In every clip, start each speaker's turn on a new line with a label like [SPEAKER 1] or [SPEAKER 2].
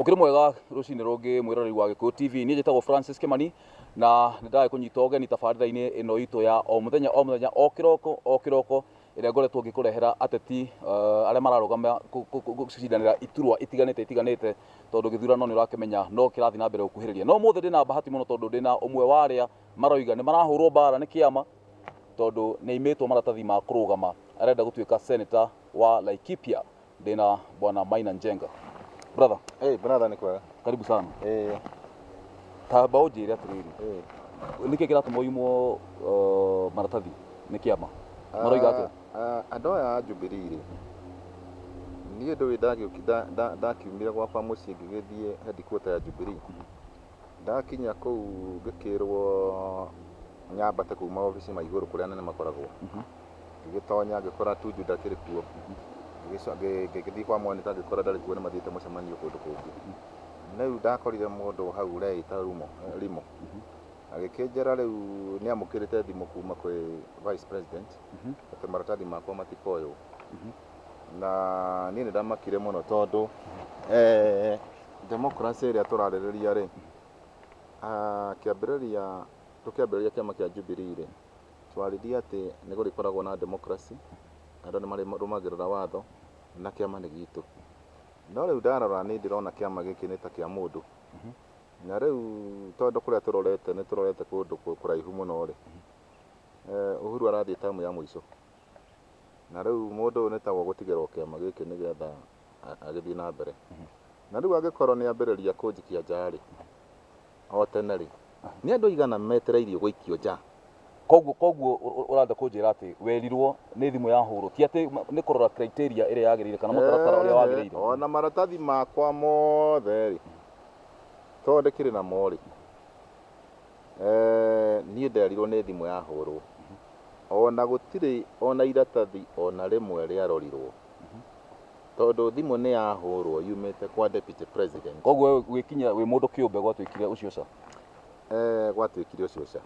[SPEAKER 1] Ũkĩrĩ mwega rũcinĩ rũngĩ mwĩroreri wa Gĩkũyũ TV niĩ njĩtagwo Francis Kimani na nĩ ndagĩ kũnyita ũgeni tabarĩra-inĩ ĩno itũ ya o mũthenya o mũthenya o kĩroko o kĩroko ĩrĩa ngoretwo ngĩkũrehera ateti eh, arĩa mararũgama gũcindanĩra iturwa itiganĩte itiganĩte tondũ gĩthurano nĩ ũrakĩmenya no kĩrathiĩ na mbere gũkuhĩrĩria no ũmũthĩ ndĩ na bahati mũno tondũ ndĩ na ũmwe wa arĩa maroiga nĩ marahũrwo mbara nĩ kĩama tondũ nĩ aimĩtwo maratathi ma kũrũgama arenda gũtuĩka seneta wa Laikipia ndina bwana Maina Njenga. Brother, Eh, brother ni kwega.
[SPEAKER 2] karibu sana. Eh,
[SPEAKER 1] Tamba ũnjĩre atĩrĩrĩ, eh. nĩkĩ kĩratũma ũimwo uh, maratathi nĩ kĩama? Maroiga atĩa? Ah, ah, Andũ aya a
[SPEAKER 2] Jubilee rĩ. Niĩ ndũĩ ndagĩũki- nda- nda- ndakiumire gwakwa mũciĩ ngĩgĩthiĩ headquarter ya Jubilee. Ndakinya kũu ngĩkĩrwo nyambate kuma obici ma igũrũ kũrĩa anene makoragwo ngĩgĩtonya ngĩkora Tuju ndakĩrĩ kuo Ngĩgĩco- ngĩ- ngĩgĩthiĩ kwa Monika ngĩkora ndarĩ kuo nĩ mathiĩte mũcemanio kũndũ kũngĩ rĩu ndakorire mũndũ hau ũreĩta Rumo eh, Rimo agĩkĩnjĩra rĩu nĩ amũkĩrĩte thimũ kuma kwĩ vice president atĩ maratathi makwa matikoywo na niĩ nĩ ndamakire mũno tondũ eh, democracy ĩrĩa tũrarĩrĩria rĩ ah, kĩambĩrĩria tũkĩambĩrĩria kĩama kĩa Jubilee rĩ twaririe atĩ nĩ gũrĩkoragwo na democracy andũ nĩ marĩrũmagĩrĩra watho na kĩama nĩ gitũ no rĩu ndarora nĩ ndĩrona kĩama gĩkĩ nĩ ta kĩa mũndũ na rĩu tondũ kũrĩa tũrorete nĩ tũrorete kũndũ kũ- kũraihu mũno rĩ eh, Uhuru arathiĩ tamu ya mũico na rĩu mũndũ ũyũ nĩtagwo gũtigĩrwo kĩama gĩkĩ nĩgetha agĩthiĩ na mbere na rĩu angĩkorwo nĩ ambĩrĩria kũnjikia nja-rĩ o tene rĩ nĩ andũ aigana metereirio gũikio nja koguo koguo
[SPEAKER 1] ũratha kũnjĩra atĩ werirwo nĩ thimũ ya hũrwo ti atĩ nĩ kũrora criteria ĩrĩa yagĩrĩire kana mũtaratara ũrĩa wagĩrĩire ona maratathi
[SPEAKER 2] makwa mothe rĩ tondũ ndĩkĩrĩ namo rĩ Eeh niĩ nderirwo nĩ thimũ yahũrwo ona gũtirĩ ona iratathi ona rĩmwe rĩarorirwo tondũ thimũ nĩ yahũrwo yumĩte kwa deputy president. Koguo we gwĩkinyia wĩ
[SPEAKER 1] mũndũ kĩũmbe gwatuĩkire ũcio ca? Eeh
[SPEAKER 2] gwatuĩkire ũcio ca.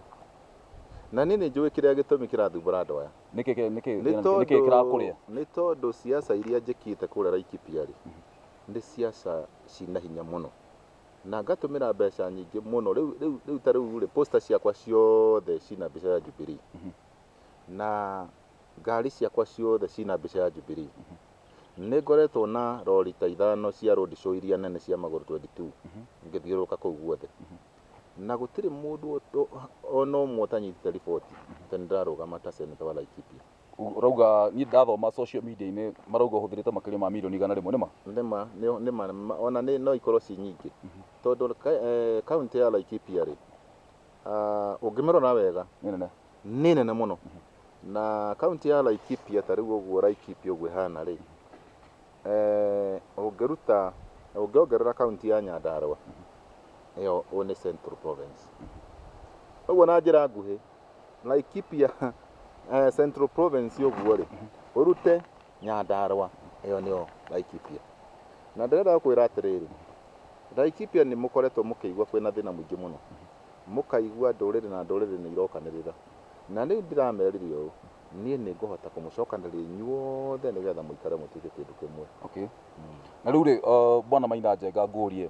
[SPEAKER 2] Na niĩ nĩ njũĩ kĩrĩa gĩtũmi kĩrathumbũra andũ aya. Nĩkĩ kĩ- nĩkĩ Nĩ nĩkĩ tondũ
[SPEAKER 1] kĩrakũrĩa? nĩ tondũ
[SPEAKER 2] siasa iria njĩkĩte kũrĩa Laikipia rĩ nĩ siasa ciĩna hinya mũno. na ngatũmĩra mbeca nyingĩ mũno rĩu rĩu rĩu ta rĩu rĩ poster ciakwa ciothe cina mbica ya Jubilee na ngari ciakwa ciothe cina mbica ya Jubilee nĩ ngoretwo na rori ta ithano cia road show iria nene cia magũrũ 22 ngĩthiũrũrũka kũu guothe na gũtirĩ mũndũ o- o- ona ũmwe ũtanyitĩte riboti atĩ nĩ ndĩrarũgama ta seneta wa Laikipia Ũrauga niĩ
[SPEAKER 1] ndathoma social media-inĩ marauga ũhũthĩrĩte makĩria ma milioni igana rĩmwe nĩma? Nĩma, nĩ- nĩma,
[SPEAKER 2] nĩma. ona nĩ- no ikorwo ci nyingĩ tondũ ka- eh, kaunti ya Laikipia rĩ ah, ũngĩmĩrora wega Nĩ nene. nĩ nene mũno na kaunti ya Laikipia ta rĩu ũguo Laikipia ũguo ĩhana rĩ Eh, ũngĩruta ũngĩongerera kaunti ya nyandarũa ĩyo ũ nĩ central province ũguo na njĩra nguhĩ laikipia eh, central province ũguo rĩ ũrute nyandarũa ĩyo nĩyo laikipia na ndĩrenda gũkwĩra atĩrĩrĩ laikipia nĩ mũkoretwo mũkĩigua kwĩna thĩna mũingĩ mũno mũkaigua ndũrĩrĩ na ndũrĩrĩ nĩ irokanĩrĩra na rĩu ndĩramerire ũũ Niĩ nĩ ngũhota kũmũcokanĩrĩria inyuothe nĩ getha mũikare mũtuĩke kĩndũ kĩmwe. Okay.
[SPEAKER 1] Na rĩu rĩ, uh, bwana Maina Njenga ngũrie,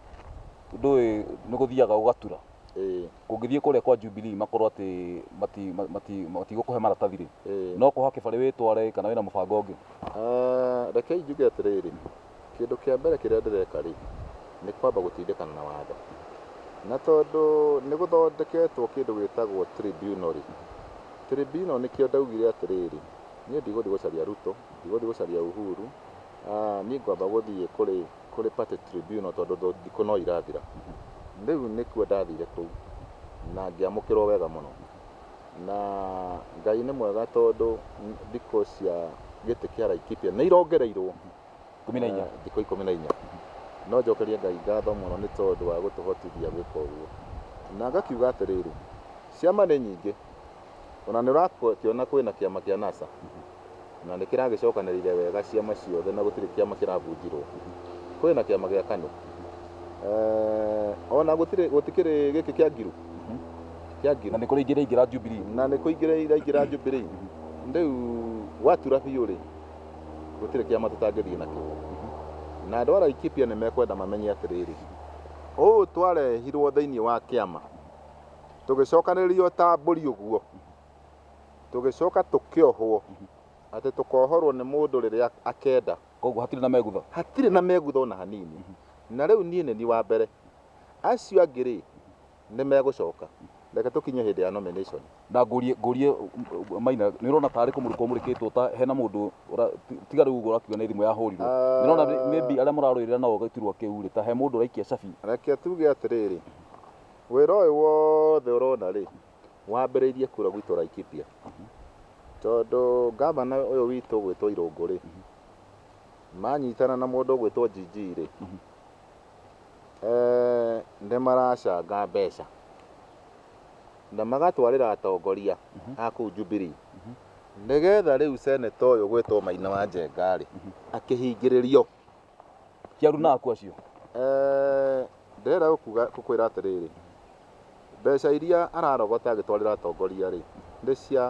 [SPEAKER 1] ndũĩ nĩ gũthiaga ũgatura Ĩĩ, kũngĩthiĩ kũrĩa kwa Jubilee makorwo atĩ mati- ma- mati- matigũkũhe maratathi rĩ ĩĩ. no kũhake barĩ wĩtware kana wĩna mũbango ũngĩ Ah, rekei
[SPEAKER 2] njuge atĩrĩrĩ Kĩndũ kĩa mbere kĩrĩa ndĩreka rĩ, nĩ kwamba gũtindĩkana na watho. Na tondũ nĩ gũthondeketwo kĩndũ gĩtagwo tribunal rĩ, tribunal nĩkĩo ndaugire atĩrĩrĩ, niĩ ndigũthiĩ gũcaria Ruto, ndigũthiĩ gũcaria Uhuru, niĩ ngwamba gũthiĩ kũrĩ kũrĩ party tribunal tondũ thikũ no irathira. Rĩu nĩkuo ndathire kũu na ngĩamũkĩrwo wega mũno. Na Ngai nĩ mwega tondũ thikũ cia gĩtĩ kĩa Laikipia nĩ irongereirwo ikũmi na inya
[SPEAKER 1] eh, thikũ ikũmi na inya
[SPEAKER 2] no njokerie Ngai ngatho mũno nĩ tondũ wa gũtũhotithia gwĩka ũguo na ngakiuga atĩrĩrĩ ciama nĩ nyingĩ ona nĩ ũrakĩona kwĩna kĩama kĩa NASA Na nĩ kĩragĩcokanĩrĩire wega ciama ciothe na gũtirĩ kĩama kĩrabunjirwo. Kũrĩ na kĩama gĩa Kanu. O na gũtirĩ, gũtikĩrĩ gĩkĩ kĩa Ngiru. Kĩa Ngiru.
[SPEAKER 1] Na nĩ kũrĩ ingĩ iraingĩra Jubilee. Na nĩ kũingĩra iraingĩra
[SPEAKER 2] Jubilee. Rĩu watura biũ-rĩ, gũtirĩ kĩama tũtangĩthiĩ nakĩo. Na andũ a Laikipia nĩ mekwenda mamenye atĩrĩrĩ, ũũ twarehirwo thĩinĩ wa kĩama, tũgĩcokanĩrĩrio ta mbũri ũguo. tũgĩcoka tũkĩohwo atĩ tũkohorwo nĩ mũndũ rĩrĩa akenda koguo hatirĩ na megutha
[SPEAKER 1] hatirĩ na megutha ona
[SPEAKER 2] hanini na rĩu niĩ nĩ niĩ wa mbere acio angĩ rĩ nĩ megũcoka reke tũkinye hĩndĩ ya nomination na ngũrie ngũrie
[SPEAKER 1] uh, maina nĩ ũrona tarĩ kũmũrĩkwo mũrĩkĩtwo ta hena mũndũ ũra- ti- tiga rĩu ũguo ũrakiuga nĩ thimũ yahũrirwo nĩ ũrona rĩ- maybe arĩa mũrarũĩrĩra nao gĩturwa kĩu rĩ ta he mũndũ ũraikia cabi reke tuge atĩrĩrĩ
[SPEAKER 2] wĩra ũyũ wothe ũrona rĩ wambĩrĩirie kura gwitũ Laikipia tondũ ngavana ũyũ witũ gwĩtwo Irũngũ rĩ manyitana na mũndũ gwĩtwo Jiji rĩ eh, nĩ maracanga mbeca na magatwarĩra atongoria a kũu Jubilee nĩgetha rĩu seneta ũyũ gwĩtwo Maina wa Njenga rĩ akĩhingĩrĩrio
[SPEAKER 1] Kiaru na aku acio. Eh,
[SPEAKER 2] ndĩrenda gũkuga gũkwĩra atĩrĩrĩ mbeca iria ararogota agĩtwarĩra atongoria rĩ nĩ cia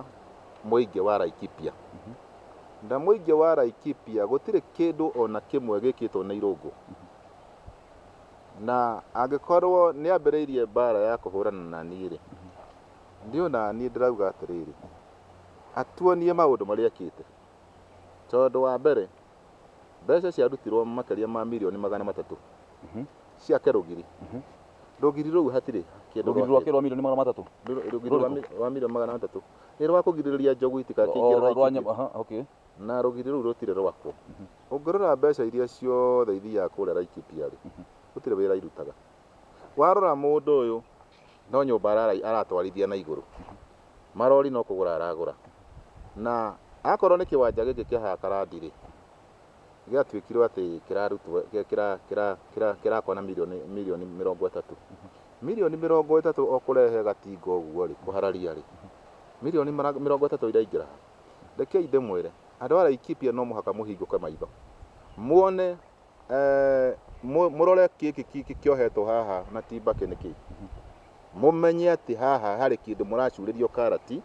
[SPEAKER 2] mũingĩ wa Laikipia na mũingĩ wa Laikipia gũtirĩ kĩndũ ona kĩmwe gĩkĩtwo nĩ irũngũ na angĩkorwo nĩ ambĩrĩirie mbara ya kũhũrana na niĩ rĩ nĩ ona niĩ ndĩrauga atĩrĩrĩ atuonie maũndũ marĩa ekĩte tondũ wa mbere Mbeca ciarutirwo makĩria ma mirioni magana matatũ ciake rũgiri. Rũgiri rũu hatirĩ kĩndũ Rũgiri rwakĩrwo mirioni magana
[SPEAKER 1] matatũ. Rũ- rũgiri rwa mi-
[SPEAKER 2] wa mirioni magana matatũ nĩ rwa kũgirĩrĩria njogu itikakĩingĩre na Rwa itikĩ- nyama, aha, okay. na rũgiri rũu rũtirĩ rwakwo ũngĩrora mbeca iria ciothe ithiaga kũrĩa Laikipia-rĩ gũtirĩ wĩra irutaga warora mũndũ ũyũ no nyũmba ararai aratwarithia na igũrũ marori no kũgũra aragũra na akorwo nĩ kĩwanja gĩkĩ kĩa haya karandi rĩ gĩatuĩkirwo atĩ kĩrarutwo kĩrakwo na mirioni mirioni mĩrongo ĩtatũ mirioni mĩrongo ĩtatũ o kũrehe gatinga ũguo rĩ kũhararia rĩ mirioni mĩrongo ĩtatũ iraingĩra rekei ndĩmwĩre andũ a Laikipia no mũhaka mũhingũke maitho muone Eeh, mũrore kĩkĩ kĩkĩ kĩohetwo haha na ti mbakĩ nĩ kĩĩ mũmenye atĩ haha harĩ kĩndũ mũracurĩrio karati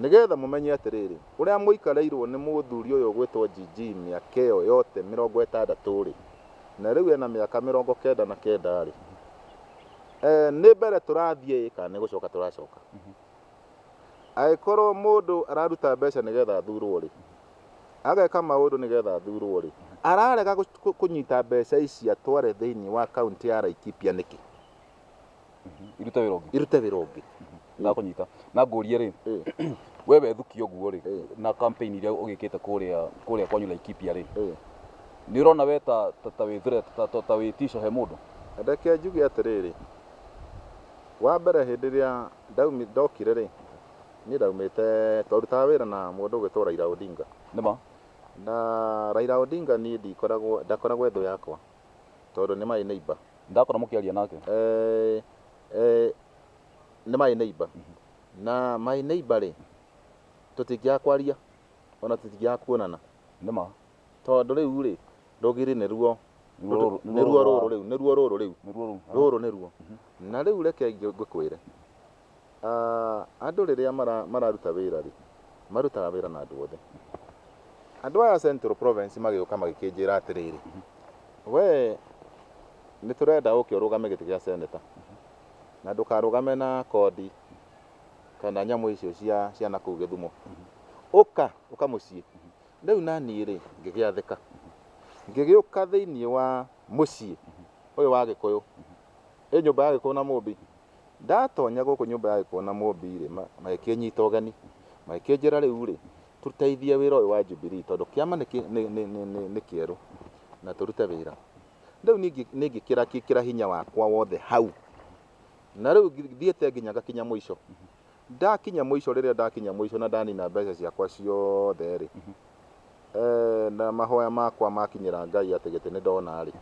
[SPEAKER 2] nĩgetha mũmenye atĩrĩrĩ ũrĩa mũikareirwo nĩ mũthuri ũyũ ũgwĩtwo GG mĩaka ĩyo yote mĩrongo ĩtandatũ rĩ na rĩu ena mĩaka mĩrongo kenda na kenda rĩ eh, nĩ mbere tũrathiĩ kana nĩ gũcoka tũracoka angĩkorwo mũndũ araruta mbeca nĩgetha athurwo rĩ ageka maũndũ nĩgetha athurwo rĩ, ararega kũnyita mbeca ici atware thĩinĩ wa kaunti ya Laikipia nĩkĩ? irute wĩra ũngĩ irute wĩra ũngĩ na kũnyita
[SPEAKER 1] na ngũrie rĩ we wethukia ũguo rĩ na campaign iria ũgĩkĩte kũrĩa kũrĩa kwanyu Laikipia rĩ nĩ ũrona we ta ta wĩ threat ta wĩ tisho he mũndũ ndeke njuge
[SPEAKER 2] atĩrĩrĩ wa mbere hĩndĩ ĩrĩa ndokire rĩ Niĩ ndaumĩte, twarutaga wĩra na mũndũ ũgwĩtwo Raila Odinga. Nĩma.
[SPEAKER 1] Na
[SPEAKER 2] Raila Odinga niĩ ndikoragwo, ndakoragwo ethũ yakwa. Tondũ nĩ my neighbor. Ndakora mũkĩaria nake.
[SPEAKER 1] Eh, eh,
[SPEAKER 2] nĩ my neighbor. Na my neighbor rĩ, tũtingĩaga kwaria, ona tũtingĩaga kuonana. Nĩma.
[SPEAKER 1] Tondũ rĩu
[SPEAKER 2] rĩ, rũgiri nĩ ruo. Nĩ ruo rũrũ rĩu, nĩ ruo rũrũ rĩu. Rũrũ nĩ ruo. Na rĩu reke ngĩkwĩre. Andũ rĩrĩa mararuta wĩra rĩ, marutaga wĩra na andũ othe. Andũ aya a Central Province magĩũka magĩkĩnjĩra atĩrĩrĩ, we nĩ tũrenda ũke ũrũgame gĩtĩ gĩa seneta na ndũkarũgame na kondi kana nyamũ icio cia cia na kũu Gĩthumo. Ũka ũka mũciĩ. Rĩu naniĩ rĩ ngĩgĩathĩka ngĩgĩũka thĩinĩ wa mũciĩ ũyũ wa Gĩkũyũ, ĩ nyũmba ya Gĩkũyũ na Mũmbi. Ndatonya gũkũ nyũmba ya gĩkuũ na Mũũmbi-rĩ, magĩkĩnyita ũgeni, magĩkĩnjĩra, 'Rĩu-rĩ, tũteithie wĩra ũyũ wa Jubilii, tondũ kĩama nĩ kĩerũ, na tũrute wĩra. Rĩu niĩ nĩngĩkĩra hinya wakwa wothe hau, na rĩu thiĩte nginya ngakinya mũico, Ndakinya mũico, rĩrĩa ndakinya mũico na ndanina mbeca ciakwa ciothe-rĩ, na mahoya makwa makinyĩra Ngai atĩ gĩtĩ nĩ ndona-rĩ,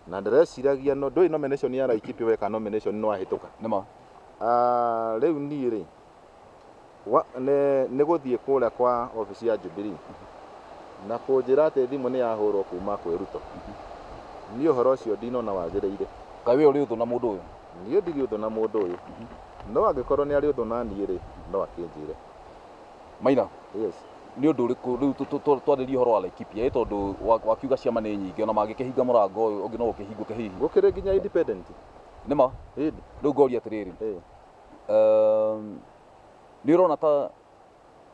[SPEAKER 2] na ndĩreciragia no, ndũĩ nomination ya Laikipia weka nomination nĩ wahĩtũka? Nĩ ma.
[SPEAKER 1] Ah,
[SPEAKER 2] rĩu niĩ-rĩ, wa, nĩ, nĩ gũthiĩ kũrĩa kwa obici ya Jubilee, na kũnjĩra atĩ thimũ nĩ yahũrwo kuuma kwĩ Ruto. Niĩ ũhoro ũcio ndinona wagĩrĩire. Kaĩ wee ũrĩ ũthũ na
[SPEAKER 1] mũndũ ũyũ? Niĩ ndirĩ ũthũ na
[SPEAKER 2] mũndũ ũyũ, no angĩkorwo nĩarĩ ũthũ na niĩ-rĩ, no akĩnjĩre. Maina, Yes. nĩ
[SPEAKER 1] ũndũ ũrĩkũ rĩu tũ- tũ- tũ- twarĩrie ũhoro wa Laikipia ĩ tondũ wa- wakiuga ciama nĩ nyingĩ ona mangĩkĩhinga mũrango ũyũ ũngĩ no ũkĩhingũke hihi Gũkĩrĩ nginya independent.
[SPEAKER 2] nĩma
[SPEAKER 1] Ĩndĩ. rĩu
[SPEAKER 2] ngoria atĩrĩrĩ
[SPEAKER 1] Ĩĩ. um, nĩ ũrona ta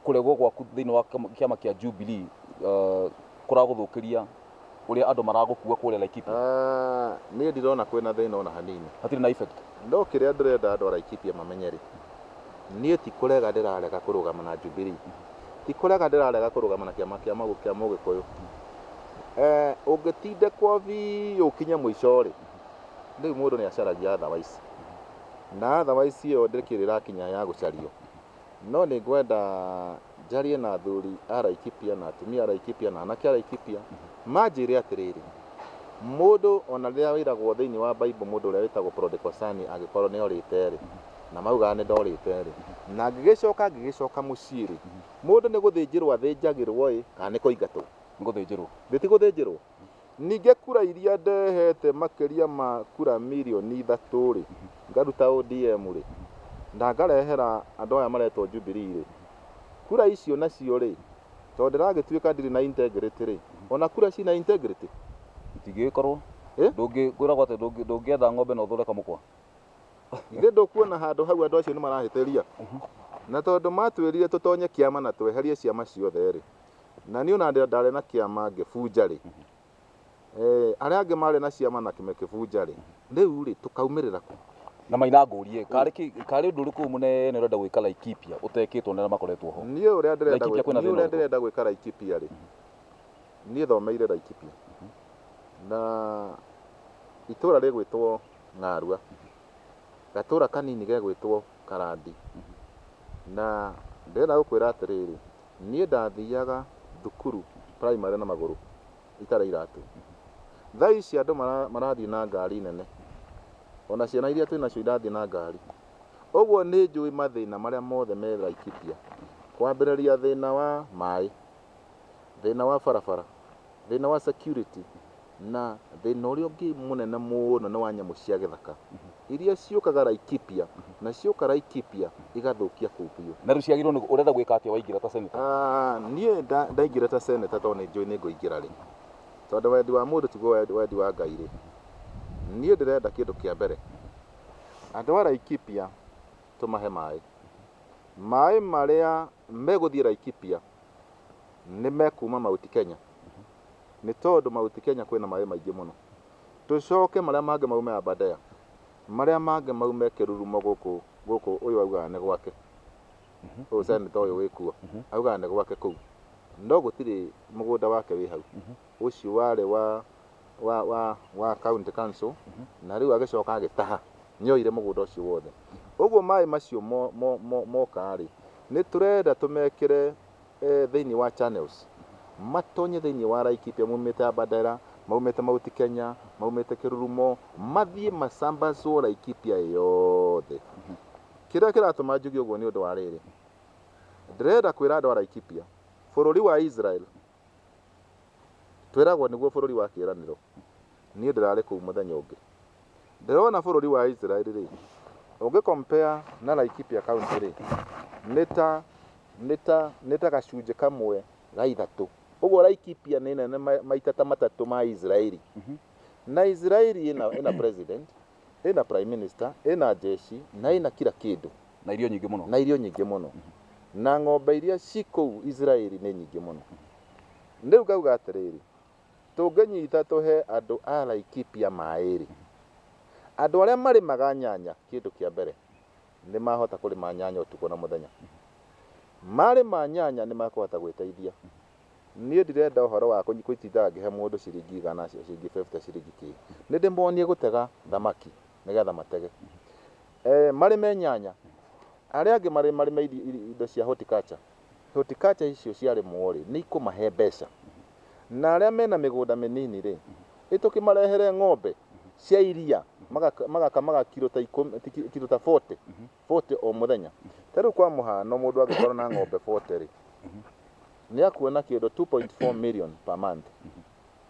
[SPEAKER 1] Kũregwo gwaku thĩinĩ wa kĩama kĩa Jubilee uh, kũragũthũkĩria ũrĩa andũ maragũkua kũrĩa Laikipia? Ah, niĩ
[SPEAKER 2] ndirona kwĩna thĩna ona hanini Hatirĩ na effect.
[SPEAKER 1] no kĩrĩa ndĩrenda
[SPEAKER 2] andũ a Laikipia mamenye rĩ niĩ ti kũrega ndĩrarega kũrũgama na Jubilee ti kũrega ndĩrarega kũrũgama na kĩama kĩa Magu- kĩa Mũgĩkũyũ Eh, ũngĩtindĩkwo biũ ũkinye mũico rĩ rĩu mũndũ nĩ acaragia otherwise na otherwise ĩyo ndĩkĩrĩ ĩrakinya ya gũcario No nĩ ngwenda njarie na athuri a Laikipia na atumia a Laikipia na anake a Laikipia manjĩre atĩrĩrĩ, mũndũ ona rĩrĩa wĩragwo thĩinĩ wa Bible mũndũ ũrĩa wĩtagwo prodigal son angĩkorwo nĩ orĩte rĩ, na maugaga nĩ ndorĩte rĩ, na ngĩgĩcoka ngĩgĩcoka mũciĩ rĩ, mũndũ nĩ gũthĩnjĩrwo athĩnjagĩrwo ĩ, kana nĩ kũingatwo? Ngũthĩnjĩrwo. Thĩ
[SPEAKER 1] ti gũthĩnjĩrwo?
[SPEAKER 2] Ningĩ kura iria ndehete makĩria ma kura mirioni ithatũ rĩ, ngaruta ODM rĩ, na ngarehera andũ aya maretwo Jubilee rĩ, kura icio nacio rĩ, tondũ ndĩragĩtuĩka ndirĩ na integrity rĩ, ona kura ciĩ na integrity? Itingĩgĩkorwo.
[SPEAKER 1] Eh? Ndũngĩ kwĩragwo atĩ ndũngĩ- ndũngĩetha ng'ombe na ũthũre kamũkwa. Githĩ
[SPEAKER 2] ndũkuona handũ hau andũ acio nĩ marahĩtĩria? Na tondũ matwĩrire tũtonye kĩama na tweherie ciama ciothe rĩ, na niĩ ona ndarĩ na kĩama ngĩbunja rĩ eh, arĩa angĩ marĩ na ciama na kĩmekĩbunja rĩ rĩu rĩ tũkaumĩrĩra kũ na maina ngũrie
[SPEAKER 1] karĩ ki- karĩ ũndũ ũrĩkũ mũnene ũrenda gwĩka Laikipia ũtekĩtwo nĩ arĩa makoretwo ho niĩ ũrĩa ndĩrenda Laikipia gwĩka- kwĩna
[SPEAKER 2] niĩ thĩna ũrĩa ũrĩkũ? ndĩrenda gwĩka Laikipia rĩ niĩ thomeire Laikipia na itũra rĩgwĩtwo Ng'arua gatũra kanini gegwĩtwo Karandi na ndĩrenda gũkwĩra atĩrĩrĩ Niĩ ndathiaga thukuru primary na magũrũ itarĩ iratũ. Thaa ici andũ marathiĩ na ngari nene. Ona ciana iria twĩ nacio irathiĩ na ngari. Ũguo nĩ njũĩ mathĩna marĩa mothe me Laikipia. Kwambĩrĩria thĩna wa maĩ, thĩna wa barabara, thĩna wa security. Na thĩna ũrĩa ũngĩ mũnene mũno nĩ wa nyamũ cia gĩthaka iria ciũkaga Laikipia na cioka Laikipia igathũkia kũu biũ. Na rĩu ciagĩrĩirwo nĩ, ũrenda
[SPEAKER 1] gwĩka atĩa waingĩra ta seneta? Ah, niĩ nda-
[SPEAKER 2] ndaingĩra ta seneta tondũ nĩ njũĩ nĩ ngũingĩra rĩ. Tondũ wendi wa mũndũ tiguo wendi- wendi wa Ngai rĩ. Niĩ ndĩrenda kĩndũ kĩa mbere, andũ a Laikipia tũmahe maĩ. Maĩ marĩa Megũthiĩ Laikipia nĩ mekuma Mauti Kenya nĩ tondũ Mauti Kenya kwĩna maĩ maingĩ mũno. Tũcoke marĩa mangĩ maume Aberdare, marĩa mangĩ maume Kĩrurumo gũkũ gũkũ ũyũ augaga nĩ gwake. Ũyũ seneta ũyũ wĩ kuo augaga nĩ gwake kũu. No gũtirĩ mũgũnda wake wĩ hau. ũcio warĩ wa wa wa wa county council na rĩu agĩcoka agĩtaha nĩoire mũgũnda ũcio wothe ũguo maĩ macio mo- mo- mo- moka-rĩ nĩ tũrenda tũmekĩre eh, thĩinĩ wa channels matonye thĩinĩ wa Laikipia maumĩte Abadera maumĩte Mount Kenya maumĩte Kĩrurumo mathiĩ macambacwo Laikipia yothe kĩrĩa kĩratũma njuge ũguo nĩ ũndũ wa rĩrĩ ndĩrenda kwĩra andũ a Laikipia bũrũri wa Israel Twĩragwo nĩguo bũrũri wa kĩĩranĩro. Niĩ ndĩrarĩ kũu mũthenya ũngĩ. Ndĩrona bũrũri wa Israeli-rĩ, ũngĩ compare na Laikipia County-rĩ, nĩ ta, nĩ ta, nĩ ta gacunjĩ kamwe ga ithatũ. Ũguo Laikipia nĩ nene maita ta matatũ ma Israeli. Na Israeli ĩna, ĩna president, ĩna prime minister, ĩna njeshi, na ĩna kira kĩndũ. Na irio nyingĩ mũno. Na
[SPEAKER 1] irio nyingĩ mũno. Na ng'ombe
[SPEAKER 2] iria ci kũu Israeli nĩ nyingĩ mũno. Rĩu ngauga atĩrĩrĩ, tũngĩnyita tũhe andũ a Laikipia maĩ-rĩ, andũ arĩa marĩmaga nyanya kĩndũ kĩa mbere nĩ mahota kũrĩma nyanya ũtukũ na mũthenya. Marĩma nyanya nĩ makũhota gwĩteithia. Niĩ ndirenda ũhoro wa gũtindaga ngĩhe mũndũ ciringi igana, ciringi fifty, ciringi kĩĩ. Nĩ ndĩmonie gũtega thamaki nĩ getha matege. Marĩme nyanya, arĩa angĩ marĩme indo cia horticulture. Horticulture icio ciarĩmwo rĩ, nĩ ikũmahe mbeca. Na arĩa mena mĩgũnda mĩnini rĩ, ĩ tũkĩmarehere ng'ombe cia iria, magakama kiro ta ikũmi, kiro ta forty. 40 o mũthenya. Ta rĩu kwa mũhano mũndũ angĩkorwo na ng'ombe 40 rĩ, nĩ akuona kĩndũ 2.4 million per month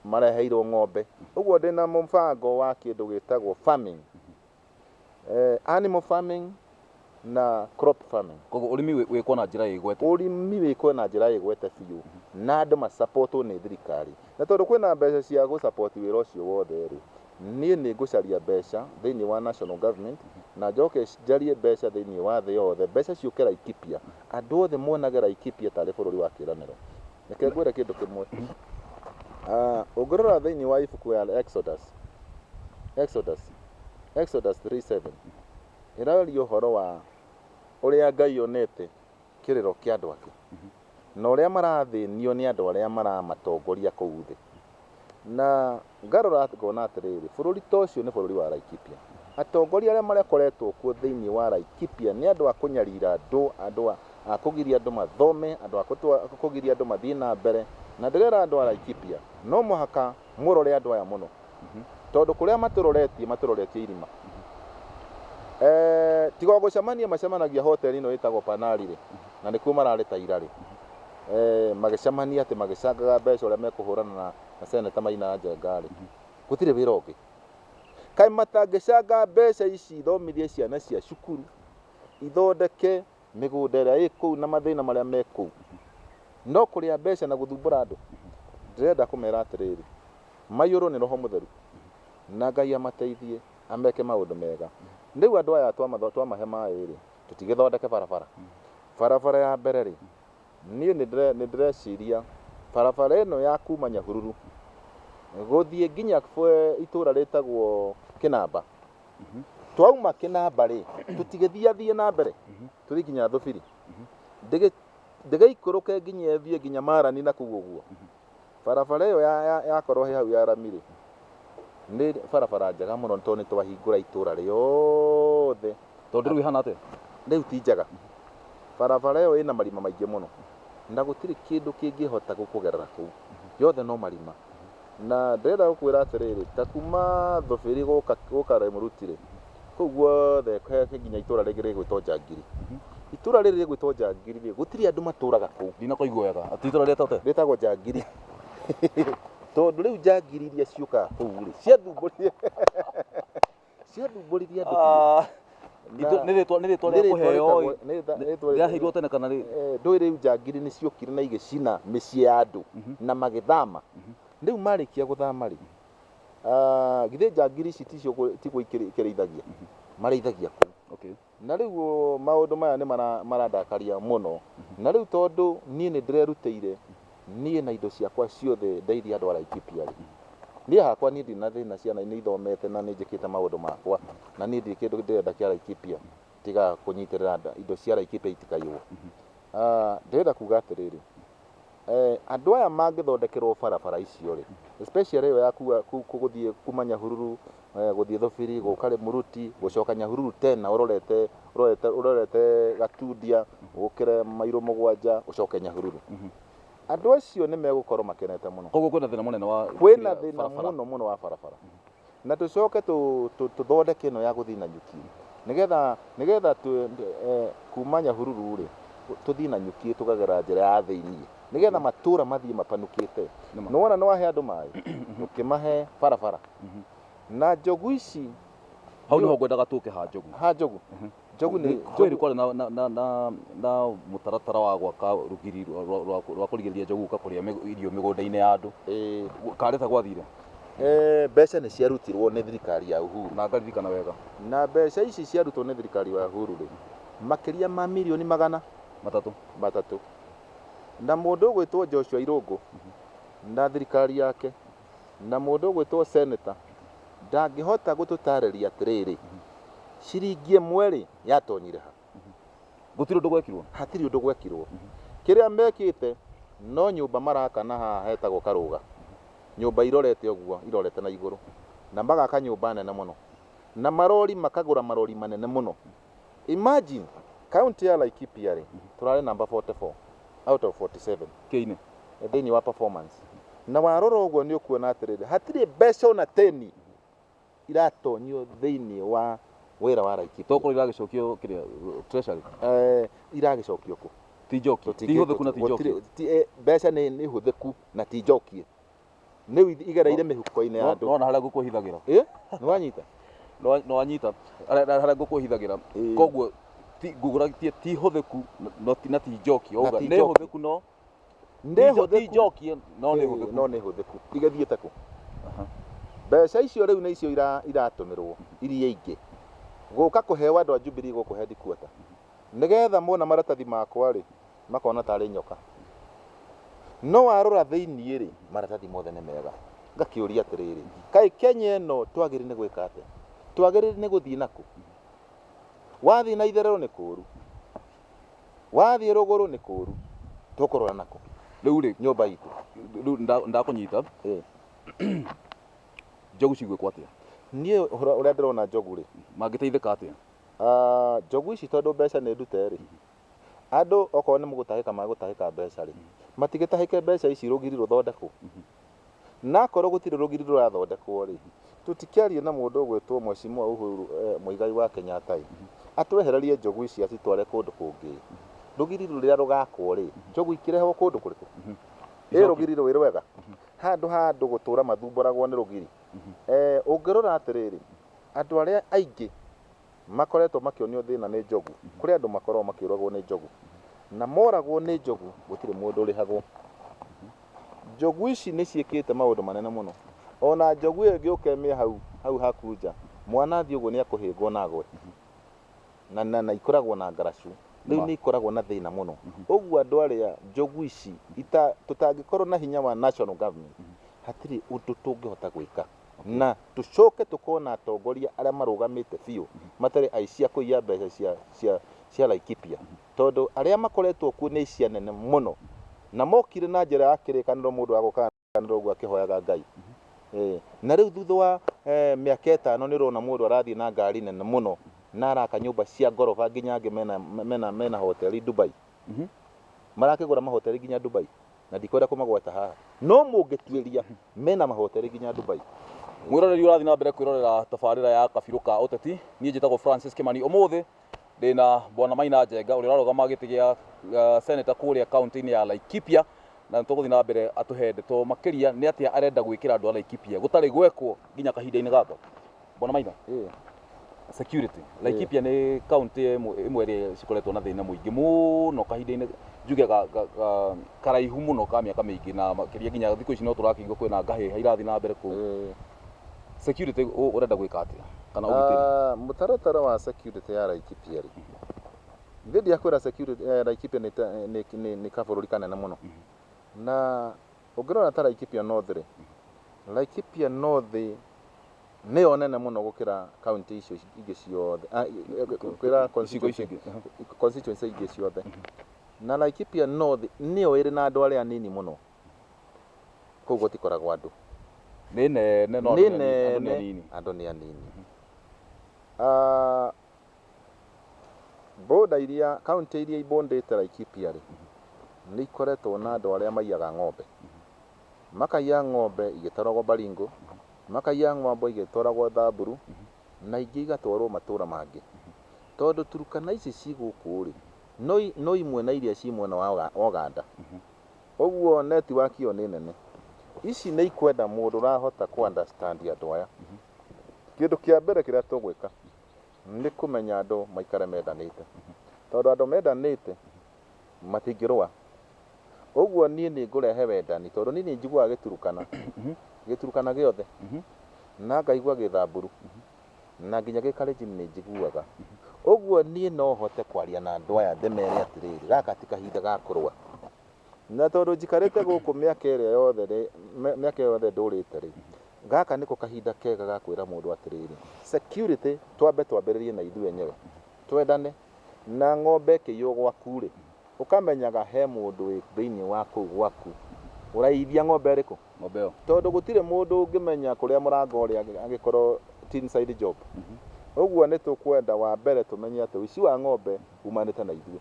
[SPEAKER 2] mareheirwo ng'ombe. Ũguo ndĩ na mũbango wa kĩndũ gĩtagwo farming, eh, animal farming na crop farming. Koguo ũrĩmi wĩ- wĩkwo na
[SPEAKER 1] njĩra ĩgwete. Ũrĩmi wĩkwo na
[SPEAKER 2] njĩra ĩgwete biũ na andũ macapotwo nĩ thirikari. Na tondũ kwĩna mbeca cia gũcapoti wĩra ũcio wothe rĩ, Niĩ nĩ ngũcaria mbeca thĩinĩ wa national government na njoke njarie mbeca thĩinĩ wa thĩ yothe, mbeca ciũke Laikipia, andũ othe monage Laikipia tarĩ bũrũri wa kĩĩranĩro. Reke ngwĩre kĩndũ kĩmwe. Ũngĩrora thĩinĩ wa ibuku ya Exodus, Exodus, Exodus three seven, ĩraria ũhoro wa ũrĩa Ngai onete. kĩrĩro kĩa andũ ake, na ũrĩa marathĩnio nĩ andũ arĩa maramatongoria kũu thĩ. Na ngarora ngona atĩrĩrĩ, bũrũri ta ũcio nĩ bũrũri wa Laikipia. Atongoria arĩa marekoretwo kuo thĩinĩ wa Laikipia nĩ andũ a kũnyarira andũ, andũ a kũgiria andũ mathome, andũ a kũgiria andũ mathiĩ na mbere. Na ndĩrera andũ a Laikipia, no mũhaka mũrore andũ aya mũno tondũ kũrĩa matũroretie matũroretie irima Eh, tiga o gũcemania macemanagia hoteli ĩno ĩtagwo panari rĩ na nĩkuo mararĩ ta ira rĩ Eh, magĩcemania atĩ magĩcangaga mbeca ũrĩa mekũhũrana na na seneta maina njenga rĩ gũtirĩ wĩra ũngĩ kaĩ matangĩcanga mbeca ici ithomithie ciana cia cukuru ithondeke mĩgũnda ĩrĩa ĩ kũu na mathĩna marĩa me kũu, no kũrĩa mbeca na gũthumbũra andũ. Ndĩrenda kũmera atĩrĩrĩ, maiyũrwo nĩ Roho Mũtheru, na Ngai amateithie, ameke maũndũ mega. Rĩu andũ aya twamahe maĩ-rĩ, tũtigĩthondeke barabara. Barabara ya mbere-rĩ, niĩ nĩndĩreciria barabara ĩno ya kuma Nyahururu gũthiĩ nginya itũra rĩtagwo Kĩnamba. Mhm. twauma kinamba ri tutigithia thie na mbere mhm. tuthi nginya thubiri mhm. ndege ndege ikuruke nginya thie nginya marani na kuguo guo barabara iyo ya ya korwo he hau ya rami ri ni barabara njega muno to ni twahingura itura riothe tondu riu ihana
[SPEAKER 1] atia riu ti njega
[SPEAKER 2] barabara iyo ina marima maingi muno na gutiri kindu kingihota gukugerera kuu yothe no marima Na ndĩrenda gũkwĩra atĩrĩrĩ, ta kuuma Thofiri gũka, gũka Lemuruti-rĩ, kũu guothe he, he nginya itũũra rĩngĩ rĩgwĩtwo Njangiri. Itũũra rĩrĩ rĩgwĩtwo Njangiri-rĩ, gũtirĩ andũ matũũraga kũu. Ndinakoigua wega. Atĩ itũũra
[SPEAKER 1] rĩetagwo atĩa? Rĩtagwo Njangiri.
[SPEAKER 2] Tondũ rĩu Njangiri iria ciũkaga kũu-rĩ, ciathumbũrire. Sio ndũmbũrithia andũ biũ. Itũ- nĩ
[SPEAKER 1] rĩtwa nĩ rĩtwa rĩa kũheo ĩ. rĩaheirwo tene kana rĩ ndũĩ rĩu njangiri
[SPEAKER 2] nĩ ciokire na igĩcina mĩciĩ ya andũ na magĩthama rĩu marĩkia gũthama rĩ ah, githĩ njangiri ici ticio gũ- tigwo ikĩrĩ- ikĩrĩithagia marĩithagia kũu okay Na rĩu maũndũ maya nĩ marandakaria mũno. Na rĩu tondũ niĩ nĩ ndĩrerutĩire, niĩ na indo ciakwa ciothe ndeithie andũ a Laikipia-rĩ, niĩ hakwa niĩ ndirĩ na thĩna, ciana nĩ ithomete na nĩ njĩkĩte maũndũ makwa, na niĩ ndirĩ kĩndũ ndĩrenda kĩa Laikipia tiga kũnyitĩrĩra indo cia Laikipia itikaiywo. Ndĩrenda kuuga atĩrĩrĩ, Eeh andũ aya mangĩthondekerwo barabara icio rĩ especially ĩyo ya kuga gũthiĩ kuma Nyahururu eh, gũthiĩ Thubiri gũka Rĩmuruti gũcoka Nyahururu tena ũrorete ũrorete ũrorete Gatundia ũkĩre mairũ mũgwanja ũcoke Nyahururu andũ acio nĩ megũkorwo makenete mũno Koguo kwĩna thĩna mũnene wa
[SPEAKER 1] kwĩna thĩna barabara. mũno mũno
[SPEAKER 2] wa barabara Na tũcoke tũthondeke ĩno ya gũthiĩ na nyuki, nĩgetha nĩgetha kuma Nyahururu-rĩ, tũthiĩ na nyuki tũkagera njĩra ya thĩiniĩ, nĩgetha matũra mathiĩ mapanukĩte. Nĩwona nĩwahe andũ maĩ, ndũkĩmahe barabara. Na njogu ici. Hau nĩho
[SPEAKER 1] ngwendaga tũke ha njogu. Ha njogu. Njogu nĩ
[SPEAKER 2] kwĩ nĩ kwarĩ na, na, na,
[SPEAKER 1] na, na mũtaratara wa gwaka rũgiri rwa- rwa- rwa rwa kũrigĩrĩria njogu gũka kũrĩa mĩg- irio mĩgũnda-inĩ ya andũ ĩĩ, karĩta gwathire eh, mbeca
[SPEAKER 2] nĩ ciarutirwo nĩ thirikari ya Uhuru na ngaririkana wega
[SPEAKER 1] na mbeca ici
[SPEAKER 2] ciarutwo nĩ thirikari ya Uhuru rĩ makĩria ma milioni magana matatũ matatũ na mũndũ ũgwĩtwo Joshua Irũngũ na thirikari yake Na mũndũ ũgwĩtwo Senator ndangĩhota gũtũtaarĩria atĩrĩrĩ, ciringi ĩmwe-rĩ, yatonyire ha? Gũtirĩ ũndũ
[SPEAKER 1] gwekirwo? Hatirĩ ũndũ gwekirwo.
[SPEAKER 2] Kĩrĩa mekĩte no nyũmba maraka na haha hetagwo Karũga. Nyũmba irorete ũguo, irorete na igũrũ. Na magaka nyũmba nene mũno. Na marori makagũra marori manene mũno. Imagine county ya Laikipia rĩ turarĩ number 44 out of 47 Kĩine. eh,
[SPEAKER 1] thĩinĩ wa
[SPEAKER 2] performance na warora ũguo nĩ ũkuona atĩrĩrĩ hatirĩ mbeca ona 10 iratonyio thĩinĩ wa wĩra wa Laikipia Tokorwo iragĩcokio kĩrĩa
[SPEAKER 1] treasury. eh,
[SPEAKER 2] iragĩcokio kũ Ti njoki. Ti
[SPEAKER 1] hũthĩku na ti njoki. Gũtirĩ- ti- eh, mbeca nĩ
[SPEAKER 2] nĩ hũthĩku na ti njokie nĩ withi igereire mĩhuko-inĩ ya andũ nona harĩa ngũkũ ĩhithagĩra ĩ
[SPEAKER 1] nĩ wanyita
[SPEAKER 2] No-
[SPEAKER 1] no anyita harĩa harĩa ngũkũ ĩhithagĩra
[SPEAKER 2] Ĩĩ.
[SPEAKER 1] koguo ti- ngũgũra ti- ti hũthĩku na- no ti- na ti njoki Na wauga ti nĩ njoki. hũthĩku no nĩ ti njo- ti hũthĩku njoki no nĩ Ĩĩ, hũthĩku no nĩ hũthĩku igathiĩte
[SPEAKER 2] kũ Aha. mbeca icio rĩu nĩ icio ira- iratũmĩrwo iria ingĩ gũka kũheo andũ a Jubilee gũkũ headquarter Nĩgeetha mona maratathi makwa-rĩ, makona tarĩ nyoka. No warora thĩinĩ-rĩ, maratathi mothe nĩ mega. Ngakĩũria atĩrĩrĩ, kaĩ Kenya ĩno twagĩrĩire nĩ gwĩka atĩa? Twagĩrĩire nĩ gũthiĩ na kũ? Wathiĩ na itherero nĩ kũũru, wathiĩ rũgũrũ nĩ kũũru, tũkũrora na kũ? Rĩu-rĩ, nyũmba
[SPEAKER 1] itũ,
[SPEAKER 2] rĩu
[SPEAKER 1] ndakũnyita, njogu cigwĩkwo atĩa? Niĩ ũrĩa
[SPEAKER 2] ndĩrona njogu-rĩ, mangĩteithĩka atĩa?
[SPEAKER 1] Ah, njogu
[SPEAKER 2] ici tondũ mbeca nĩ ndute rĩ, andũ okorwo nĩ mũgũtahĩka magũtahĩka mbeca rĩ, matigĩtahĩke mbeca ici rũgiri rũthondekwo. Na akorwo gũtirĩ rũgiri rũrathondekwo rĩ, tũtikĩarie na mũndũ ũgwĩtwo Mheshimiwa Uhuru eh, Muigai wa Kenyatta ĩ, atwehererie njogu ici acitware kũndũ kũngĩ. Rũgiri rũrĩa rũgakwo rĩ, njogu ikĩrehwo kũndũ kũrĩkũ? Ĩ rũgiri rwĩ rwega? Handũ ha andũ gũtũra mathumbũragwo nĩ rũgiri. Eh, ũngĩrora atĩrĩrĩ, Andũ arĩa aingĩ makoretwo makĩonio thĩna nĩ njogu. Kũrĩ andũ makoragwo makĩũragwo nĩ njogu, na moragwo nĩ njogu gũtirĩ mũndũ ũrĩhagwo. Njogu ici nĩ ciĩkĩte maũndũ manene mũno. O na njogu ĩyo ĩngĩũka ĩmĩe hau, hau haku nja, mwana athiĩ ũguo nĩ ekũhĩngwo na agwe. Na, na, na ikoragwo na ngaracu. Rĩu Ma. nĩ ikoragwo na thĩna mũno. Ũguo andũ arĩa njogu ici ita, tũtangĩkorwo na hinya wa national government, hatirĩ ũndũ tũngĩhota gwĩka. na tũcoke tũkona atongoria arĩa marũgamĩte biũ matarĩ aici a kũiya mbeca cia, cia, cia Laikipia tondũ arĩa makoretwo kuo nĩ aici anene mũno na mokire na njĩra ya kĩrĩkanĩro mũndũ agoka kanĩro ũguo akĩhoyaga Ngai Eh, na rĩu thutha wa eh, mĩaka ĩtano nĩ ũrona mũndũ arathiĩ na ngari nene mũno na araka nyũmba cia ngoroba nginya angĩ mena, mena, mena hoteli Dubai marakĩgũra mahoteli nginya Dubai na ndikwenda kũmagweta haha no mũngĩtuĩria mena mahotere nginya Dubai mwĩroreri ũrathiĩ
[SPEAKER 1] na mbere kwĩrorera tabarĩra ya kabirũ ka ũteti niĩ njĩtagwo Francis Kimani ũmũthĩ ndĩna bwana Maina Njenga ũrĩa ũrarũgama gĩtĩ gĩa uh, seneta kũrĩa kaunti-inĩ ya Laikipia na tũgũthiĩ na mbere atũhe ndeto makĩria nĩ atĩa arenda gwĩkĩra andũ a Laikipia gũtarĩ gwekwo nginya kahinda-inĩ gaka Bwana Maina, Eh. security Laikipia nĩ kaunti ĩmwe ĩmwe ĩrĩa cikoretwo na thĩna mũingĩ mũno kahinda-inĩ njuge ga- ga- ga- karaihu mũno ka mĩaka mĩingĩ na makĩria nginya thikũ ici no tũrakĩigua kwĩna ngahĩha irathiĩ na mbere kũu Eh. security ũ- ũrenda gwĩka atĩa kana ũgitĩri Ah, mũtaratara wa
[SPEAKER 2] security ya Laikipia rĩ ithe ndiakwĩra security eh, Laikipia nĩ ta- nĩ- nĩ- nĩ kabũrũri kanene mũno na Ũngĩrora ta Laikipia North-rĩ, Laikipia North nĩyo nene mũno gũkĩra kaunti icio ingĩ ciothe, ah, gũkĩra Icigo constituency icio ingĩ. Aha. constituency ingĩ ciothe. Na Laikipia North nĩyo ĩrĩ na andũ arĩa anini mũno. Kũu gũtikoragwo andũ. Nĩ nene
[SPEAKER 1] no Nĩ andũ nĩ anini- andũ nĩ nene, anini. andũ
[SPEAKER 2] nĩ anini. Ah, Boda iria, kauntĩ iria ibũndĩte Laikipia rĩ, nĩ ikoretwo na andũ arĩa maiyaga ng'ombe. Makaiya ng'ombe igĩtwaragwo Baringo, makaiya ng'ombe igĩtwaragwo Thamburu, na ingĩ igatwarwo matũra mangĩ. Tondũ Turkana ici ci gũkũ rĩ, no imwe na iria ci mwena wa Oganda. Ũguo network ĩyo nĩ nene. Ici nĩ ikwenda mũndũ ũrahota kũ understand andũ aya. Kĩndũ kĩa mbere kĩrĩa tũgwĩka, nĩ kũmenya andũ maikare mendanĩte, tondũ andũ mendanĩte matingĩrũa. Ũguo niĩ nĩ ngũrehe wendani, tondũ niĩ nĩ njiguaga Gĩturukana, Gĩturukana gĩothe, na ngaigua Gĩthamburu, na nginya Gĩkalenjin nĩ njiguaga. Ũguo niĩ no hote kwaria na andũ aya ndĩmere atĩrĩrĩ, gaka ti kahinda ga kũrũa. Na tondũ njikarĩte gũkũ mĩaka ĩrĩa yothe rĩ, mĩ- mĩaka ĩyo yothe ndũrĩte rĩ, gaka nĩko kahinda kega ga kwĩra mũndũ atĩrĩrĩ, security twambe twambĩrĩrie na ithuĩ enyewe, twendane. Na ng'ombe ĩkĩiywo gwaku rĩ, ũkamenyaga he mũndũ wĩ thĩinĩ wa kũu gwaku ũraiyithia ng'ombe ĩrĩkũ, ng'ombe ĩyo tondũ
[SPEAKER 1] gũtirĩ mũndũ
[SPEAKER 2] ũngĩmenya kũrĩa mũrango ũrĩa angĩkorwo ti inside job. Ũguo nĩ tũkwenda wa mbere tũmenye atĩ ũici wa ng'ombe umanĩte na ithuĩ.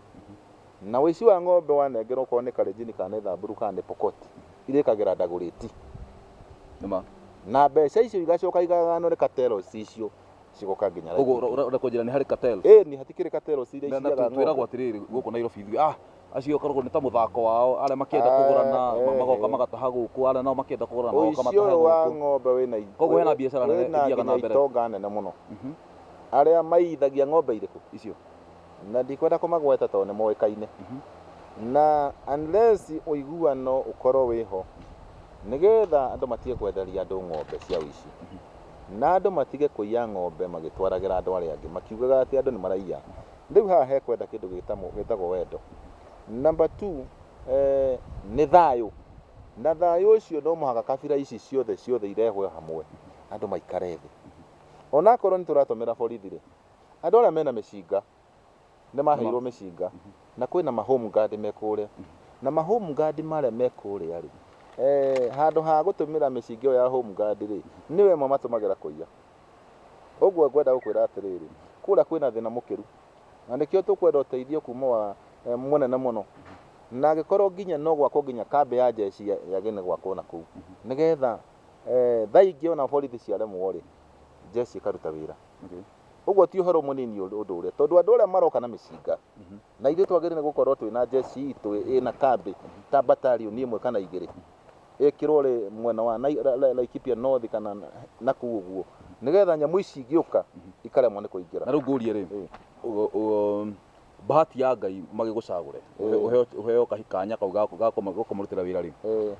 [SPEAKER 2] Na ũici wa ng'ombe wanengerwo okorwo nĩ Kalenjini kana nĩ Thamburu kana nĩ Pokot irĩkagĩra Dagoretti. Nĩma. Na mbeca icio igacoka igagayanwo nĩ cartels icio cigoka nginya Koguo Laikipia. ũra- ũrenda kũnjĩra nĩ harĩ
[SPEAKER 1] cartels? Ĩni hatikĩrĩ cartels
[SPEAKER 2] iria Na- na iciaga tu- twĩragwo ng'ombe. atĩrĩrĩ
[SPEAKER 1] gũkũ Nairobi ithuĩ ah acio koragwo nĩ ta mũthako wao arĩa makĩenda Ah, kũgũrana ma- eh, magoka eh. magataha gũkũ arĩa nao makĩenda kũgũrana magoka Ũici matahe ũyũ wa gũkũ ng'ombe wĩna
[SPEAKER 2] i- Koguo hena biacara nene
[SPEAKER 1] wĩna ĩthiaga na nginya mbere.
[SPEAKER 2] itonga
[SPEAKER 1] nene
[SPEAKER 2] mũno.
[SPEAKER 1] Mhm. Arĩa
[SPEAKER 2] maiithagia
[SPEAKER 1] ng'ombe
[SPEAKER 2] irĩkũ? icio Na ndikwenda kũmagweta tondũ nĩ moĩkaine. Na unless ũiguano ũkorwo wĩho nĩgetha andũ matige kwenderia andũ ng'ombe cia ũici. Na andũ matige kũiya ng'ombe magĩtwaragĩra andũ arĩa angĩ makiugaga atĩ andũ nĩ maraiya. Rĩu haha he kwenda kĩndũ gĩtagwo wendo. Number two, nĩ thayũ. Na thayũ ũcio no mũhaka kabira ici ciothe ciothe irehwo hamwe andũ maikare thĩ. Onakorwo nĩ tũratũmĩra borithi rĩ, Andũ arĩa mena mĩcinga nĩ maheirwo mĩcinga na kwĩ na mahome guard me kũrĩa na mahome guard marĩa me kũrĩa rĩ eh, handũ ha gũtũmĩra mĩcinga ĩyo ya home guard rĩ nĩ wema matũmagĩra kũiya ũguo ngwenda gũkwĩra atĩrĩrĩ kũrĩa kwĩ na thĩna mũkĩru na nĩkĩo tũkwenda ũteithio kuma wa eh, mũnene mũno na angĩkorwo nginya no gwakwo nginya kambĩ ya jeshi ya ya gĩne gwakwo na kũu nĩgetha eh, thaa ingĩ ona borithi ciaremwo rĩ jeshi ĩkaruta wĩra Okay. ũguo ti ũhoro mũnini ũrĩ- ũndũ ũrĩa tondũ andũ arĩa maroka na mĩcinga Mhm. na ithuĩ twagĩrĩire nĩ gũkorwo twĩ na njeci itũ ĩ na kambĩ ta batarioni ĩmwe kana igĩrĩ ĩkĩrwo rĩ mwena wa Nai- Ra- Ra- Laikipia North kana na- na kuu ũguo nĩgetha nyamũ ici ingĩũka ikaremwo nĩ kũingĩra na rĩu ngũrie rĩ
[SPEAKER 1] Eh. ũ- ũ- bahati ya ngai magĩgũcagũre ũhe- ũheo- ũheo kahi- kanya kau ga- ga kũma- ga kũmũrutĩra wĩra rĩ Eh.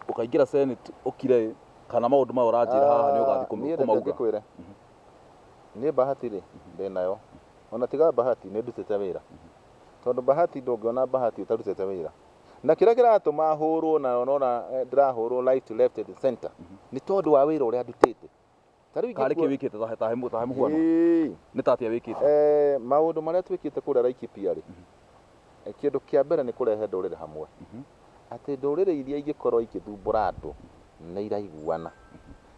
[SPEAKER 1] ũkaingĩra senate ũkire ĩ, kana maũndũ maya ũranjĩra haha nĩ ũgathiĩ kũm- Niĩ reke kũmauga ngĩkwĩre.
[SPEAKER 2] niĩ bahati rĩ ndĩ nayo ona tiga bahati nĩ ndutĩte wĩra tondũ bahati ndũngĩona bahati ũtarutĩte wĩra na kĩrĩa kĩratũma hũrwo na ũrona eh, ndĩrahũrwo right to left and center nĩ tondũ wa wĩra ũrĩa ndutĩte Ta rĩu karĩ kĩ ingĩkua-
[SPEAKER 1] wĩkĩte tahe tahe mũ- tahe mũhuano Ĩĩ. nĩ tatia wĩkĩte Eh, maũndũ marĩa
[SPEAKER 2] twĩkĩte kũrĩa Laikipia rĩ eh, kĩndũ kĩa mbere nĩ kũrehe ndũrĩrĩ hamwe atĩ ndũrĩrĩ iria ingĩkorwo igĩthumbũra andũ nĩ iraiguana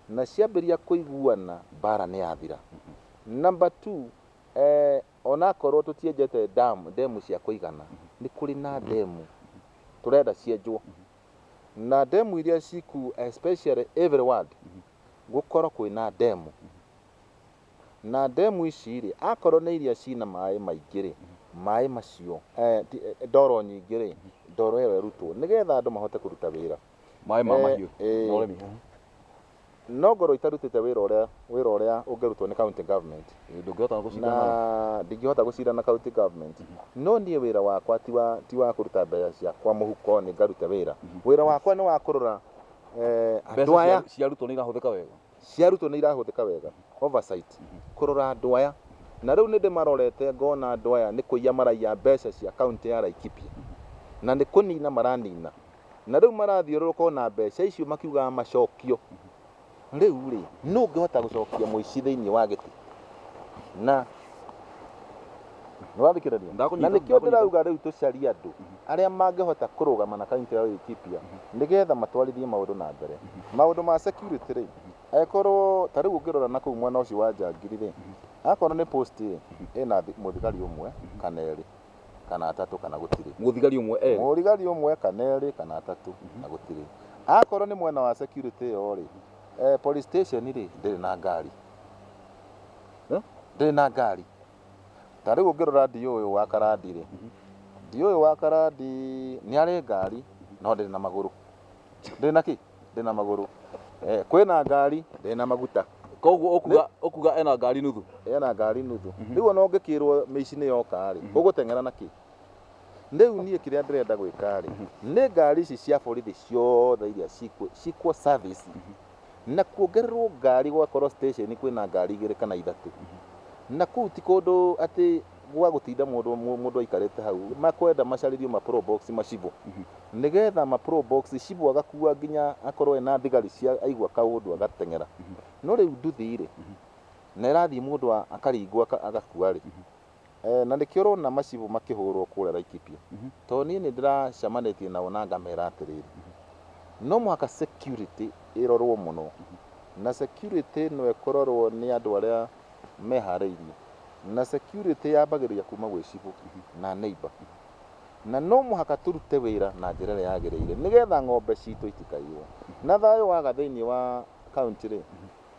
[SPEAKER 2] na ciambĩrĩria kũiguana mbara nĩ yathira namba two eh, onakorwo tũtienjete dam ndemu cia kũigana nĩ kũrĩ na ndemu tũrenda cienjwo na ndemu iria ciku especially every ward gũkorwo kwĩna ndemu, na ndemu ici rĩ, akorwo nĩ iria cina maĩ maingĩ rĩ, maĩ macio, eh, ti- eh, ndoro nyingĩ rĩ, ndoro ĩyo ĩrutwo, nĩgetha andũ mahote kũruta wĩra. maĩ ma Eh, mahiũ
[SPEAKER 1] eh. na ũrĩmi
[SPEAKER 2] No ngorwo itarutĩte wĩra ũrĩa wĩra ũrĩa ũngĩrutwo nĩ county government, Eh, ndũngĩhota gũcindana nao. na ndingĩhota gũcira na county government no niĩ wĩra wakwa ti wa ti wa kũruta mbeca ciakwa mũhuko nĩ ngaruta wĩra wĩra wakwa nĩ wa kũrora eh, andũ mbeca aya cia- cia arutwo nĩ irahũthĩka wega
[SPEAKER 1] cia arutwo nĩ irahũthĩka
[SPEAKER 2] wega oversight kũrora andũ aya na rĩu nĩ ndĩmarorete ngona andũ aya nĩ kũiya maraiya mbeca cia kaunti ya Laikipia na nĩ kũnina maranina na rĩu marathiũrũrũka ona mbeca icio makiugaga macokio rĩu rĩ nũ ũngĩhota gũcokia mũici thĩinĩ wa gĩtĩ na nĩwathikĩrĩria na Ndakũnyita, nĩkĩo ndakũnyita. ndĩrauga rĩu tũcarie andũ arĩa mangĩhota kũrũgama na kaunti ya Laikipia nĩgetha matwarithie maũndũ na mbere maũndũ ma security rĩ angĩkorwo ta rĩu ũngĩrora na kũu mwena ũcio wa Njangiri rĩ akorwo nĩ post ĩ ĩna thi- mũthigari ũmwe kana erĩ kana atatũ kana gũtirĩ mũthigari ũmwe erĩ mũrigari
[SPEAKER 1] ũmwe
[SPEAKER 2] kana erĩ kana atatũ na gũtirĩ akorwo nĩ mwena wa security ĩyo rĩ eh, police station rĩ ndĩrĩ na ngari Eh? ndĩrĩ na ngari ta rĩu ũngĩrora ndiũ ũyũ wa karandi rĩ ndiũ ũyũ wa karandi nĩ arĩ ngari no ndĩrĩ na magũrũ ndĩrĩ na kĩ ndĩrĩ na magũrũ eh, kwĩna ngari ndĩrĩ na maguta koguo ũkuga
[SPEAKER 1] ũkuga ena ngari nuthu ena ngari nuthu
[SPEAKER 2] mhm. rĩu ona ũngĩkĩrwo mĩici nĩ yoka rĩ mhm. ũgũteng'era na kĩ rĩu niĩ kĩrĩa ndĩrenda gwĩka rĩ mhm. nĩ ngari ici cia borithi ciothe iria cikwo service na kuongererwo ngari gwakorwo station kwĩna ngari igĩrĩ kana ithatũ na kũu ti kũndũ atĩ gwa gũtinda mũndũ mũ- mũndũ aikarĩte hau makwenda macarĩrio ma pro box macibũ nĩgetha ma pro box cibũ agakua nginya akorwo ena thigari cia aigua kaũndũ agateng'era no rĩu nduthi-rĩ na ĩrathiĩ mũndũ a- akaringwo aka- agakua-rĩ Ee, na nĩkĩo ũrona macibũ makĩhũũrwo kũũrĩa Laikipia, tondũ niĩ nĩ ndĩracemanĩtie nao na ngamera atĩrĩrĩ, no mũhaka security ĩrorwo mũno, na security no ĩkororwo nĩ andũ arĩa meharĩirie, na security yambagĩrĩria kuuma gwĩ cibũ na neighbour, na no mũhaka tũrute wĩra na njĩra ĩrĩa yagĩrĩire, nĩgetha ng'ombe citũ itikaiywo, na thayũ waga thĩiniĩ wa kauntĩ-rĩ,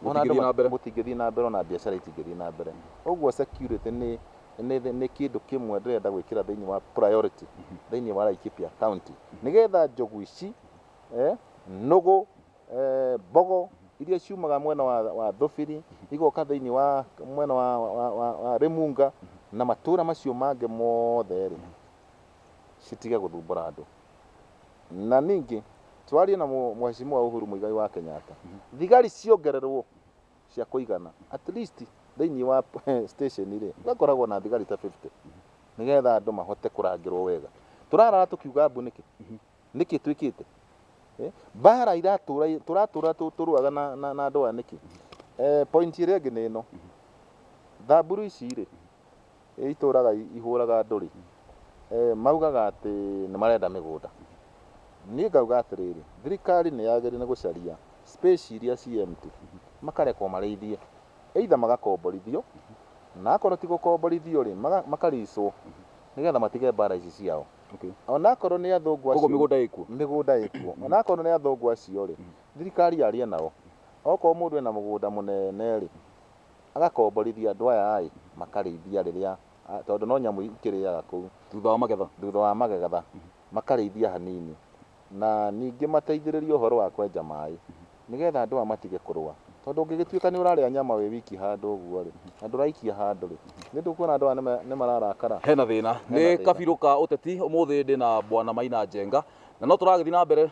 [SPEAKER 2] Ona andũ Gũtingĩthiĩ na mbere. gũtingĩthiĩ na mbere ona biacara itingĩthiĩ na mbere ũguo security nĩ nĩ thĩ- nĩ kĩndũ kĩmwe ndĩrenda gwĩkĩra thĩinĩ wa priority thĩinĩ wa Laikipia county nĩgetha njogu ici eh, nũgũ eh, mbogo iria ciumaga mwena wa, wa thũbiri igoka thĩinĩ wa mwena wa, wa, wa, wa, wa rĩmunga na matũra macio mangĩ mothe rĩ citige gũthumbũra andũ Na ningĩ twarie na Mheshimiwa Uhuru Muigai wa Kenyatta, thigari ciongererwo cia kũigana at least thĩinĩ wa station rĩ gakoragwo na thigari ta 50 nĩgetha andũ mahote kũrangĩrwo wega. Tũrarara tũkiuga mbu nĩkĩ? Nĩkĩ twĩkĩte? Mbara iratũra tũratũra tũrũaga na, na, na andũ aya nĩkĩ? Eh, point ĩrĩa ĩngĩ nĩ ĩno, thamburu ici rĩ Ĩ itũũraga ihũũraga ndũrĩ? Ĩ maugaga atĩ nĩ marenda mĩgũnda. Niĩ ngauga atĩrĩrĩ, thirikari nĩ yagĩrĩire nĩ gũcaria space iria ci empty, makarekwo marĩithie. Either magakomborithio, na akorwo ti gũkomborithio rĩ, maka lease wo, nĩ getha matige mbaara ici ciao. O na akorwo nĩ athũngũ acio. Kwoguo mĩgũnda ĩkuo? Mĩgũnda ĩkuo. O na akorwo nĩ athũngũ acio rĩ, thirikari yarie nao. Okorwo mũndũ ena mũgũnda mũnene rĩ, Agakomborithia andũ aya aaĩ makarĩithia rĩrĩa tondũ no nyamũ ikĩrĩaga kũu. Thutha wa magetha. Thutha wa magetha makarĩithia hanini na ningĩ mateithĩrĩrie ũhoro wa kwenja maaĩ nĩgetha andũ aya matige kũrũa tondũ ũngĩgĩtuĩka nĩ ũrarĩa nyama wĩ wiki handũ ũguo rĩ na ndũraikia handũ rĩ nĩ ndũkuona andũ aya nĩ mararakara? Hena thĩna. Nĩ
[SPEAKER 1] kabirũ ka ũteti ũmũthĩ ndĩna Bwana Maina Njenga na no tũragĩthiĩ na mbere